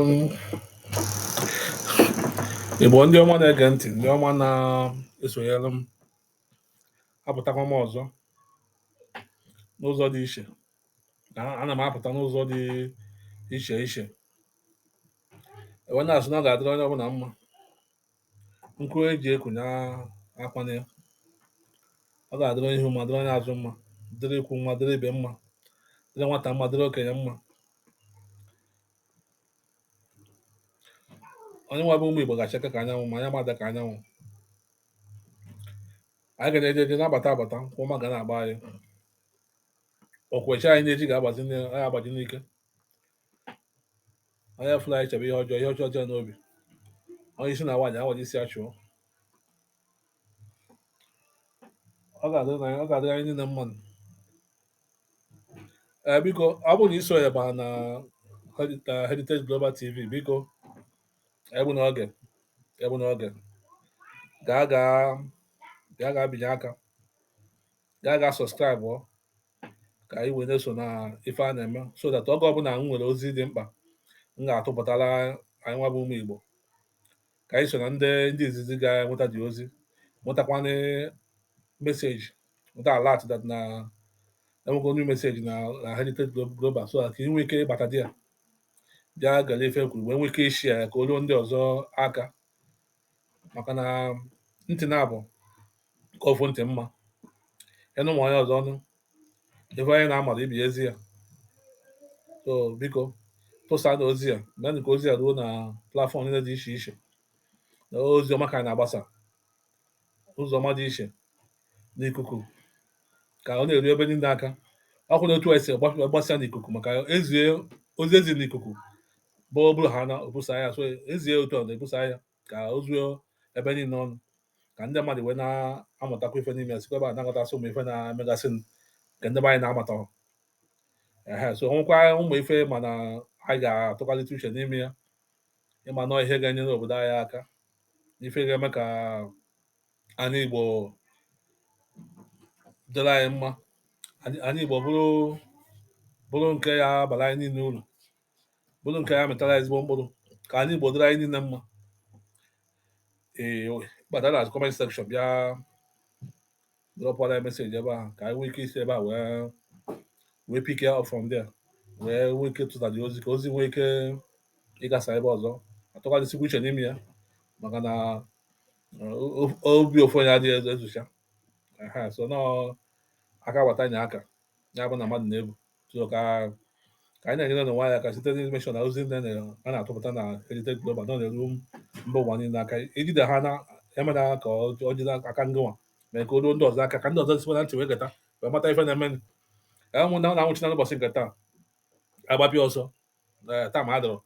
ụmụ Igbo ndị ọma na-ege ntị, ndị ọma na-esonyere m, apụtakwa m ọzọ n'ụzọ dị iche. A- Ana m apụta n'ụzọ dị iche iche. E wee na-asị na ọ ga-adịrị onye ọbụla mma. nku e ji eku nwa akwana ya ọ ga-adịrị onye ihu mma dịrị onye azụ mma dịrị ikwu mma dịrị ibe mma dịrị nwata mma dịrị okenye mma anyị nwa bụ ụmụ Igbo ga-achake ka anyanwụ ma anyị ama ada ka anyanwụ anyị ga na-eje eje na-abata abata ụkwụ ọma ga na-agba anyị okwechi anyị na-eji ga-agbazi agbaji n'ike onye fụrụ anyị chebe ihe ọjọọ ihe ọjọọ dị n'obi onye isi na nwaanyị awaji isi achụọ ọ ga-adịrị anyị niile mma ee biko ọ bụrụ na i so ya baa na Heritage Global TV biko egbuna oge egbuna oge gaa gaa gaa gaa binye aka gaa gaa subscribe ka anyị wee na-eso na ife a na-eme so that oge ọbụla m nwere ozi dị mkpa m ga-atụpụtara anyị nwa bụ ụmụ Igbo ka anyị so na ndị ndị izizi ga-enweta the ozi nwetakwana message nweta alert that na e nwego new message na na Heritage Global so ka ị nwee ike ịbata there bịa gere ife e kwuru wee nwee ike ị-share ya ka o ruo ndị ọzọ aka maka na ntị naabọ ka ofu ntị mma ị nụ ma onye ọzọ nụ ife onye na-amarọ ibe ya ezi ya so biko tụsanụ ozi a meenụ ka ozi a ruo na platform niile dị iche iche na ozi ọma ka anyị na-agbasa ụzọ ọma dị iche n'ikuku ka ọ na-eru ebe niile aka ọ bụ na otu a e si gbasa n'ikuku maka ezie ozi e zi n'ikuku bụ o buru ya na o busa ya so ezie otu ọ na-ebusa ya ka o zuo ebe niile ọnụ ka ndị mmadụ wee na-amụtakwa ife n'ime ya sikwa ebe a na-aghọtasị ụmụ ife na-emegasị nke ndị anyị na-amata ehe so nwekwa ụmụ ife mana anyị ga-atụgharịta uche n'ime ya ịma nọọ ihe ga-enyere obodo anyị aka ife ga-eme ka anị Igbo dịrị anyị mma anị Igbo bụrụ bụrụ nke ya-abara anyị niile uru bụrụ nke ya mịtara ezigbo mkpụrụ ka anị Igbo dịrị anyị niile mma ee bata na comment section bịa dropụla message ebe ahụ ka anyị nwee ike isi ebe a wee wee pick ya up from there wee nwee ike tụta the ozi ka ozi nwee ike ịgasa ebe ọzọ a tụgharịsịkwa uche n'ime ya maka na obi ofu onye adịghị ezo ezucha so na aka gbata nya aka ya bụ na mmadụ na-ebu so ka ka anyị na-enyere onwe anyị aka site n'informeshọn na ozi ndị a na-atụpụta na Heritage Global nọ na-eru mba ụwa niile aka ijide ha na emena ka ọ jide aka ngịnwa mee ka o ruo ndị ọzọ aka ka ndị ọzọ sikwa na ntị wee geta wee mata ife na-eme na anwụchina n'ụbọchị nke taa agbapịa ọsọ eh, taịm adịrọ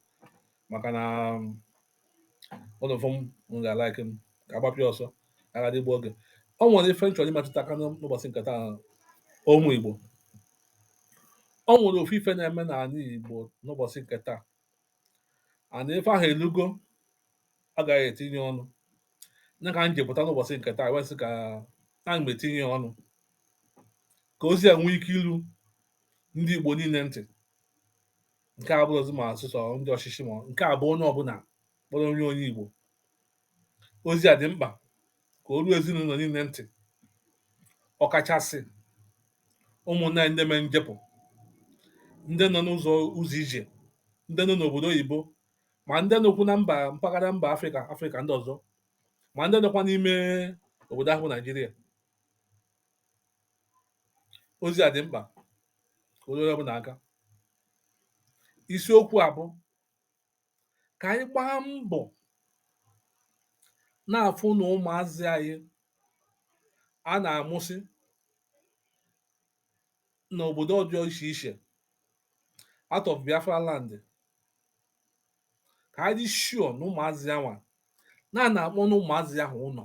maka na ụlọ fọm m ga-alaiki m ka agbapịa ọsọ a ghara igbu oge ọ nwere ife m chọrọ ịmetụta aka n'ụbọchị nke taa ụmụ Igbo ọ nwere ofu ife na-eme n'ala Igbo n'ụbọchị nke taa and ife ahụ elugo a ga-eji etinye ọnụ nya ka m ji pụta n'ụbọchị nke taa wee sị ka a m etinye ọnụ ka ozi a nwee ike ilu ndị Igbo niile ntị nke a abụrọzi ma a sị sọ ndị ọchịchị ma nke a bụ onye ọbụla kpọrọ onwe ya onye Igbo ozi a dị mkpa ka o ruo ezinụlọ niile ntị ọkachasị ụmụnne anyị ndị mee njepụ ndị nọ n'ụzọ ụzọ ije ndị nọ n'obodo oyibo ma ndị nọkwu na mba mpaghara mba Afrịka Afrịka ndị ọzọ ma ndị nọkwa n'ime obodo ahụ bụ Naijiria ozi a dị mkpa ka o ruo onye ọbụla aka isiokwu a bụ ka anyị gbaa mbọ na-afụ na ụmụazị anyị a na-amụsị n'obodo ọzọ iche iche out of Biafra land ka anyị dị sure na ụmụazị anwa na a na-akpọna ụmụazị ahụ ụlọ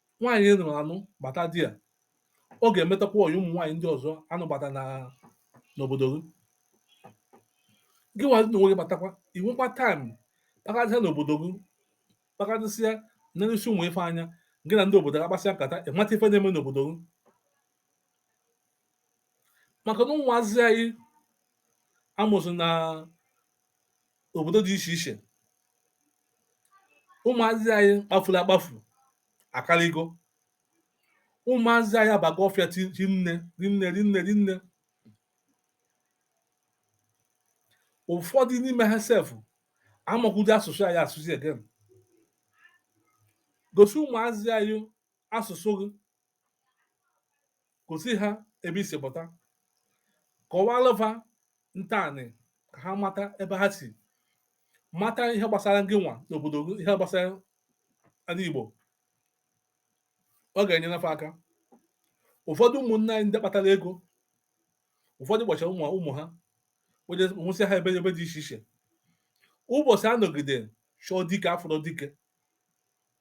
nwaanyị ị nụrụ anụ bata di ya ọ ga-emetakwa ọyị ụmụ nwaanyị ndị ọzọ a nụbata na n'obodo gị gị nwazi na onwe gị batakwa i nwekwa taịm kpagharịsịa n'obodo gị kpagharịsịa nelisie ụmụ ife anya gị na ndị obodo gị akpasịa nkata ịmata ife na-eme n'obodo gị maka na ụmụazị anyị a mụsị na obodo dị iche iche ụmụazị anyị kpafuru akpafu akaligo ụmụazị anyị abago ọfịa rinne rinne rinne rinne ụfọdụ n'ime ha sef amakwudị asụsụ anyị asụsụ again gosi ụmụazị anyị asụsụ gị gosi ha ebe i si pụta kọwalụ fa ntọanị ka ha mata ebe ha si mata ihe gbasara gị nwa n'obodo gị ihe gbasara ndị Igbo ọ ga-enyere fa aka ụfọdụ ụmụnne anyị ndị kpatara ego ụfọdụ kpachara mụọ ụmụ ha mụsị ha ebe ebe dị iche iche ụbọchị a nọgide chọọ dike afụrọ dike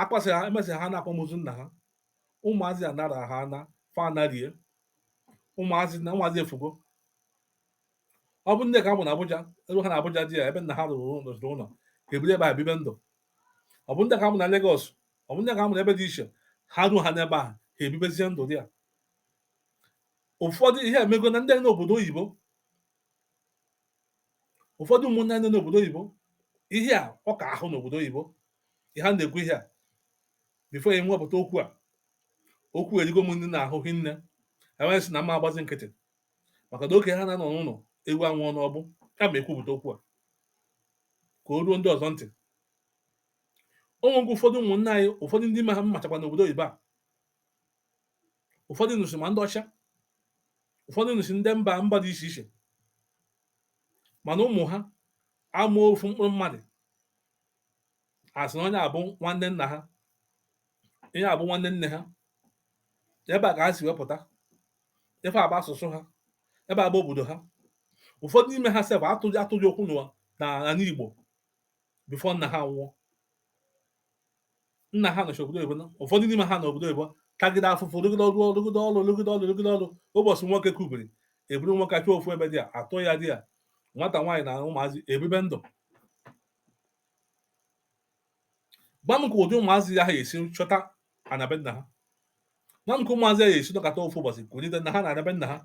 akwasị ha emesị ha n'akwamozu nna ha ụmụazị anara ha na fa anarie ụmụazị na ụmụazị efugo ọ bụ ndị ka a mụ na Abuja ruo ha na Abuja there ebe nna ha rụrụ ụlọ ha ebiri ebe a bibe ndụ ọ bụ ndị ka a mụ na Lagos ọ bụ ndị ka a mụ na ebe dị iche ha ruo ha n'ebe a ha ebibezie ndụ there ụfọdụ ihe emego na ndị nọ n'obodo oyibo ụfọdụ ụmụnne anyị nọ n'obodo oyibo ihe a ọ ka ahụ n'obodo oyibo ihe a na-ekwu ihe a before ya nwepụta okwu a okwu erigo m ndị n'ahụ hinne m wee sị na mma agbazi nkịtị maka na okenye ana-anọ n'ụlọ ewu anwụọ n'ọgbụ ka m ekwupụta okwu a ka o ruo ndị ọzọ ntị o nwegwu ụfọdụ ụmụnne anyị ụfọdụ ndị m machakwa n'obodo oyibo a ụfọdụ nụsị ma ndị ọcha ụfọdụ nụsị ndị mba mba dị iche iche mana ụmụ ha ama ofu mkpụrụ mmadụ a sị na onye a bụ nwanne nna ha onye a bụ nwanne nne ha ebe a ka ha si wee pụta ife a bụ asụsụ ha ebe a bụ obodo ha ụfọdụ n'ime ha sef atụghị ụkwụ n'ụwa na n'ala Igbo before nna ha nwụọ nna ha nọchi obodo oyibo ụfọdụ n'ime ha na obodo oyibo tagide afụfụ rụgide ọrụ rụgide ọrụ rụgide ọrụ rụgide ọrụ ụbọchị nwoke kubiri eburu nwoke achọ ofu ebe there atụ ya there nwata nwaanyị na ụmụazị ebibe ndụ gwa m ka ụdị ụmụazị a ya-esi chọta ana be nna ha gwa m ka ụmụazị ya-esi nọkọta ofu ụbọchị kwurịta na ha na-ana be nna ha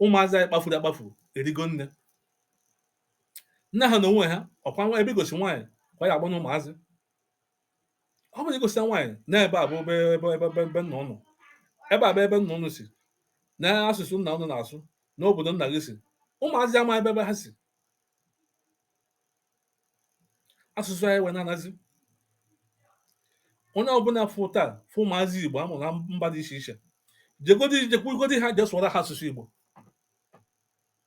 ụmụazị anyị kpafuru akpafu erigo nne nne ha na onwe ha ọ kwa nwa ebe i gosi nwaanyị kwa ya agbanye ụmụazị ọ bụrụ i gosi nwaanyị na ebe a bụ ebe nna ụnụ ebe a bụ ebe nna ụnụ si na asụsụ nna ụnụ na-asụ na obodo nna gị si ụmụazị ama ebe ebe ha si asụsụ anyị wee na-anazi onye ọbụla fụta fụ ụmụazị igbo a mụ na mba dị iche iche jegodi jekwugodi ha je sụọra ha asụsụ igbo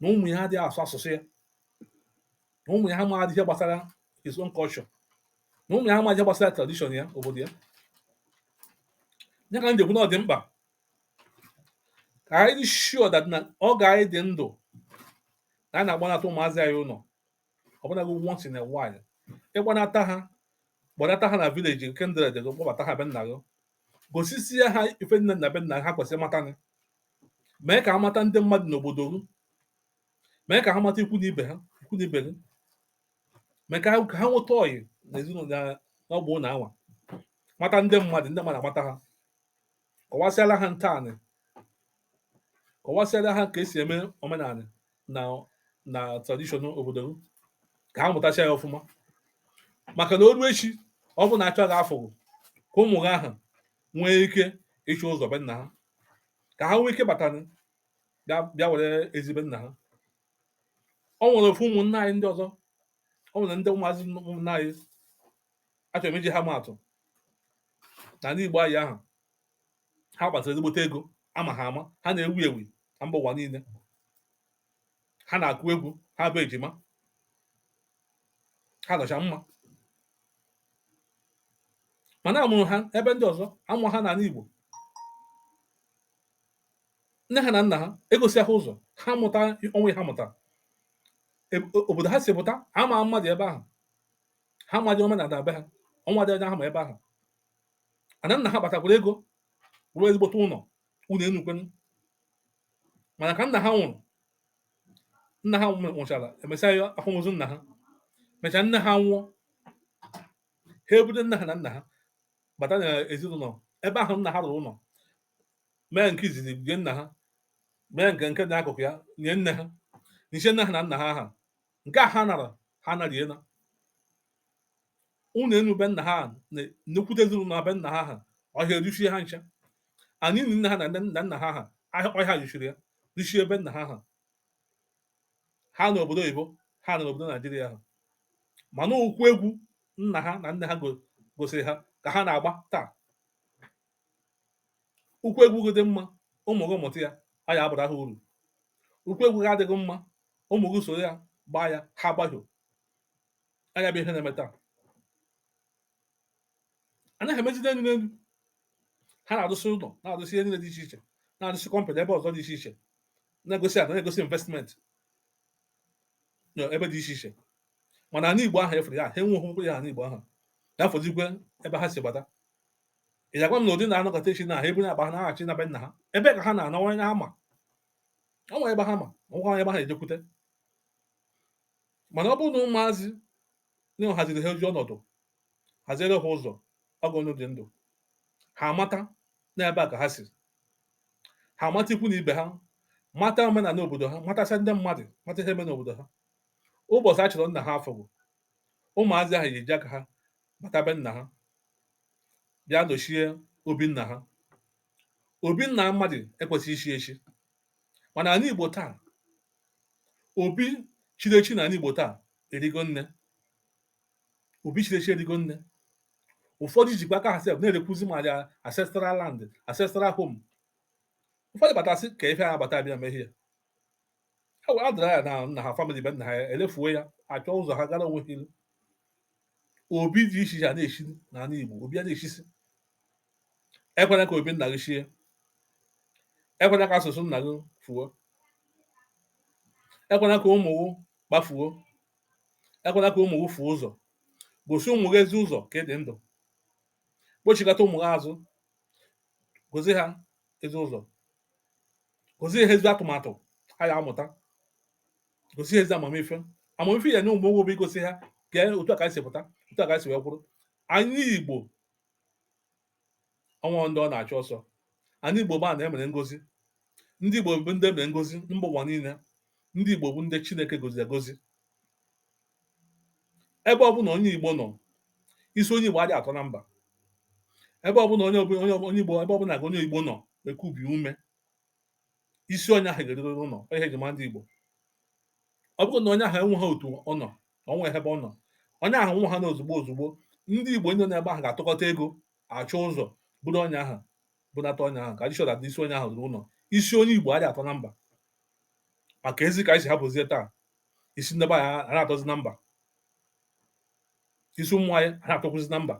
na ụmụ ya adịghị asụ asụsụ ya na ụmụ ya amaghị ihe gbasara his own culture na ụmụ ya amaghị ihe gbasara tradition ya obodo ya ya ka m ji ekwu na ọ dị mkpa ka anyị dị sure that na oge anyị dị ndụ na a na-akpọnata ụmụazị anyị ụlọ ọbụnagụ once in a while ị kpọnata ha kpọnata ha na village na kindred gị kpọbata ha be nna gị gosisie ha ife niine na be nna ha kwesịrị mata gị mee ka ha mata ndị mmadụ n'obodo gị mee ka ha mata ikwu na ibe ha ikwu na ibe gị mee ka ha ka ha nweta ọyị na ezinụlọ na ọgbụ na anwa mata ndị mmadụ ndị mmadụ amata ha kọwasịara ha ntọala kọwasịara ha ka esi eme omenala na tradition obodo gị ka ha mụtacha ya ọfụma maka na o ru echi ọ bụ na a chọọ gị afụghị, ka ụmụ gị ahụ nwee ike ịchụ ụzọ be nna ha ka ha nwee ike bata bịa were ezi be nna ha ọ nwere ofu ụmụnna anyị ndị ọzọ ọ nwere ndị ụmụazị ụmụnna anyị achọrọ m iji ha maatụ na ndị Igbo anyị ahụ ha kpatara ezigbote ego a ma ha ama ha na-ewu ewu na mba ụwa niile ha na-akụ egwu ha bụ ejima ha nọcha mma mana a mụrụ ha ebe ndị ọzọ amụ ha n'ala Igbo nne ha na nna ha egosi ha ụzọ ha mụta onwe ha mụta obodo ha si pụta ama mmadụ ebe ahụ ha amaghị omenala be ha o nwedịghị onye ha ma ebe ahụ ana nna ha kpatakwara ego rụọ ezigbote ụlọ ụlọ enukwenu mana ka nna ha nwụrụ nna ha nwụchara e mesịa ya akwamozu nna ha mechaa nne ha nwụọ ha eburu nne ha na nna ha bata na ezinụlọ ebe ahụ nna ha rụrụ ụlọ mee nke izizi nie nna ha mee nke dị akụkụ ya nie nne ha nichaa nne ha na nna ha aha nke a ha nara ha nariela ụlọ enu be nna ha nnekwute ezinụlọ na be nna ha ha ọhịa eruchie ha ncha ini nne ha na nna ha ha ọhịa ruchiri ya ruchie be nna ha ha ha nọ obodo oyibo ha nọ n'obodo Naijiria ha mana ụkwụ egwu nna ha na nne ha gosiri ha ka ha na-agba taa ụkwụ egwu gị dị mma ụmụ gị mụta ya ọ ya-abara ha uru ụkwụ egwu gị adịghị mma ụmụ gị soro ya gbaa ya ha agbahie ọ ya bụ ihe na-eme taa anaghị emejide elu n'elu ha na-arụsị ụlọ na-arụsị ihe niile dị iche iche na-arụsị company ebe ọzọ dị iche iche na-egosi ana na-egosi investment ebe dị iche iche mana ana igbo ahụ efere ya ha enwe okwu ya ana igbo ahụ ya fọzikwe ebe ha si gbata ị ga-agwa m na ụdị ndị a nọkata echi na ha eburu akpa ha naghachi na be nna ha ebe ka ha na-anọ onye ha ma ọ nwere ebe ha ma ọ nwere onye ebe ha ejekwute mana ọ bụrụ na ụmụazị nna ha ziri ha ezi ọnọdụ haziere ha ụzọ oge ọ dị ndụ ha amata n'ebe a ka ha si ha amata ikwu na ibe ha mata omenala obodo ha matasịa ndị mmadụ mata ihe eme n'obodo ha ụbọchị a chọrọ nna ha afụghị ụmụazị ahụ ga-eji aka ha bata be nna ha bịa nọchie obi nna ha obi nna mmadụ ekwesịghị ichi echi mana anị Igbo taa obi chiri echi n'anị Igbo taa erigo nne obi chiri echi erigo nne ụfọdụ jikwa aka ha sef na-erekwuzi ma ya ancestral land ancestral home ụfọdụ batasị ka ife ha bata bịa mehie ha wee adara ya na nna ha family be nna ha elefuo ya achọ ụzọ ha gara onwe ha ilu obi dị iche iche a na-echi n'anị Igbo obi a na-echisi ekwela ka obi nna gị chie ekwela ka asụsụ nna gị fuo ekwela ka ụmụ gị kpafuo ekwela ka ụmụ gị fuo ụzọ gosi ụmụ gị ezi ụzọ ka ị dị ndụ kpọchigata ụmụ gị azụ gosi ha ezi ụzọ gosi ha ezi atụmatụ ha ya-amụta gosi ha ezi amamife amamife ị ya-enye ụmụ gị bụ igosi ha ka e, otu a ka anyị si pụta otu a ka anyị si wee kwụrụ anị igbo ọnwa ndị ọ na-achụ ọsọ anị igbo bụ anị emere ngozi ndị igbo bụ ndị emere ngozi mba ụwa niile ndị igbo bụ ndị chineke goziri egozi ebe ọbụna onye Igbo nọ isi onye Igbo adịghị atọ na mba ebe ọbụna onye ọbụla onye onye Igbo ebe ọbụla ka onye Igbo nọ ekubi ume isi onye ahụ ga-erurịrị ụlọ ọ ihe eji mara ndị Igbo ọ bụrụ na onye ahụ enweghị otu ọ nọ ọ nweghị ebe ọ nọ onye ahụ nwụ ha na ozugbo ozugbo ndị Igbo ndị nọ n'ebe ahụ ga-atụkọta ego achọ ụzọ buru onye ahụ bunata onye ahụ ka a dị sure na isi onye ahụ ruru ụlọ isi onye Igbo adịghị atọ na mba ma keezi ka anyị si hapụzie taa isi ndị be anyị a na-atọzi na mba isi ụmụ anyị a na-atọkwuzi na mba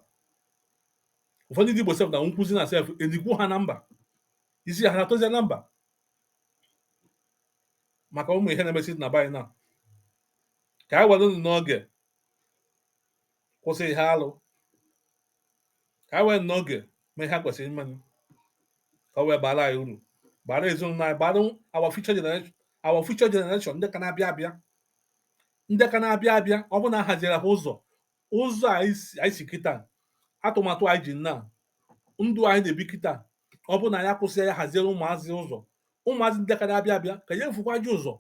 ụfọdụ ndị Igbo sef na-anwụkwuzi na sef enikwu ha na mba isi ha na-atọzi na mba maka ụmụ ihe na-emesi na be anyị na ka anyị werenụ n'oge kwụsị ihe alụ ka anyị were n'oge mee ihe kwesịrị imenụ ka ọ wee bara anyị uru bara ezinụlọ anyị bara our future generation our future generation ndị ka na-abịa abịa ndị ka na-abịa abịa ọ bụ na a haziere ha ụzọ ụzọ anyị si kịta atụmatụ anyị ji na ndụ anyị na-ebi kịta ọ bụ na a ya-akwụsị ya haziere ụmụazị ụzọ ụmụazị ndị ka na-abịa abịa ka ya efukwa ji ụzọ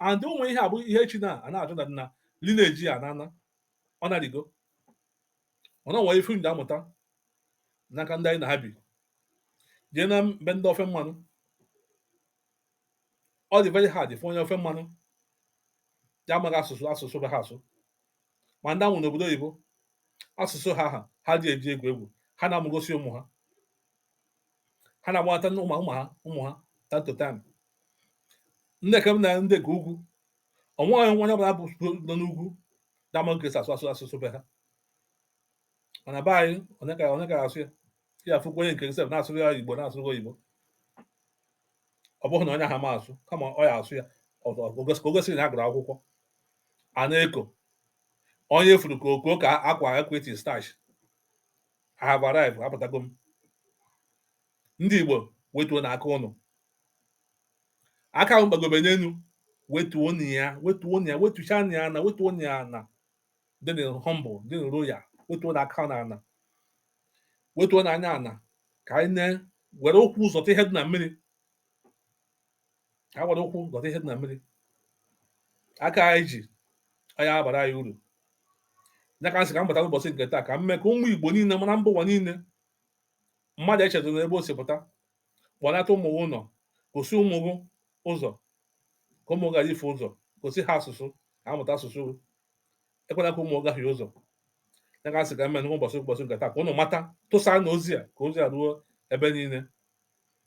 and ụmụ ihe a bụ ihe chi na a na-ajụ na nna lineage a na ana ọ na-adịgo ọ na nwere ife ndị amụta n'aka ndị anyị na ha bi jee na be ndị ofe mmanụ ọ dị very hard ịfụ onye ofe mmanụ na-amaghị asụsụ asụsụ be ha asụ ma ndị a mụrụ n'obodo oyibo asụsụ ha ha ha adị eji egwu egwu ha na-amụgosi ụmụ ha ha na-akpọnata ndị ụmụ ha ụmụ ha time to time ndị ka m na ndị nke ugwu o nweghị onye nwa ọbụla bụ nọ n'ugwu da ama ka esi asụ asụsụ be ha mana be anyị onye ka onye ka asụ ya ya afụkwa onye nke sef na-asụrụ ya igbo na-asụrụ oyibo ọ bụghị na onye ha ma asụ kama ọ ya asụ ya ka o gosiri na a gụrụ akwụkwọ a na-eko onye furu ka okoko ka akwa ekweti starch I have arrived apụtago m ndị Igbo wetuonụ aka ụnụ aka ahụ ụnụ kpagobe n'elu wetuonụ ya wetuonụ ya wetuchanụ ya ana wetuonụ ya ana dịnụ humble dịnụ loyal wetuonụ aka n'ana wetuonụ anya ana ka anyị na were ụkwụ zọta ihe dị na mmiri ka a were ụkwụ zọta ihe dị na mmiri aka anyị ji anyị abarọ anyị uru ya ka m sị ka m bata n'ụbọchị nke taa ka m mee ka ụmụ igbo niile mara mba ụwa niile mmadụ echezọna ebe o si pụta kpọlata ụmụ gị ụlọ gosi ụmụ gị ụzọ ka ụmụ gị ghara ifu ụzọ gosi ha asụsụ ka ha mụta asụsụ gị ekwela ka ụmụ gị gahie ụzọ ya ka m sị ka m mee n'ụbọchị ụbọchị nke taa ka ụnụ mata tụsanụ ozi a ka ozi a ruo ebe niile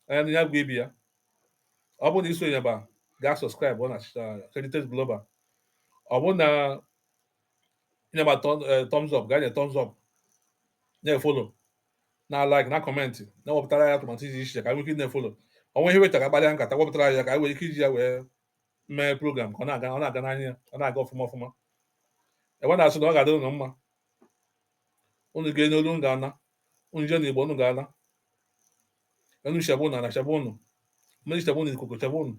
onye nụ ya gwa ibe ya ọ bụrụ na isonyeba gaa subscribe na Heritage Global ọ bụrụ na ịnyeba thumbs up gaa nye thumbs up na-efollow na like na comment na-ewepụtara anyị atụmatụ dị iche iche ka anyị nwee ike na-efollow o nwee ihe wetara gbalịa nkata wepụtara ya ka anyị nwere ike iji ya wee mee program ka ọ na-aga ọ na-aga n'anya ọ na-aga ọfụma ọfụma ebe m na-asị na ọ ga-adị ụnụ mma unu gaa n'olu unu ga-ana unu jee n'igbo unu ga-ana enu chebe ụnụ ana chebe ụnụ mmiri chebe ụnụ ikuku chebe ụnụ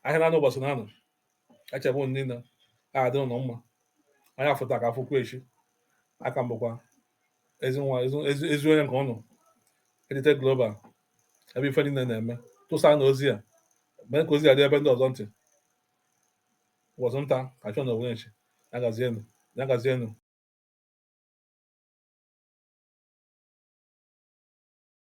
ahịa na-anọ ụbọchị na-anọ echebe ụnụ niile ọ dịrị ụnụ mma anya fụ taa ka ọ fụkwa echi aka m bụkwa ezi nwa ezi onye nke ụnụ Heritage Global ebe ife niile na-eme tụsanụ ozi a mee ka ozi a dị ebe ndị ọzọ ntị ụbọchị nta ka a chụọ n'owere nchi ya gazienụ ya gazienụ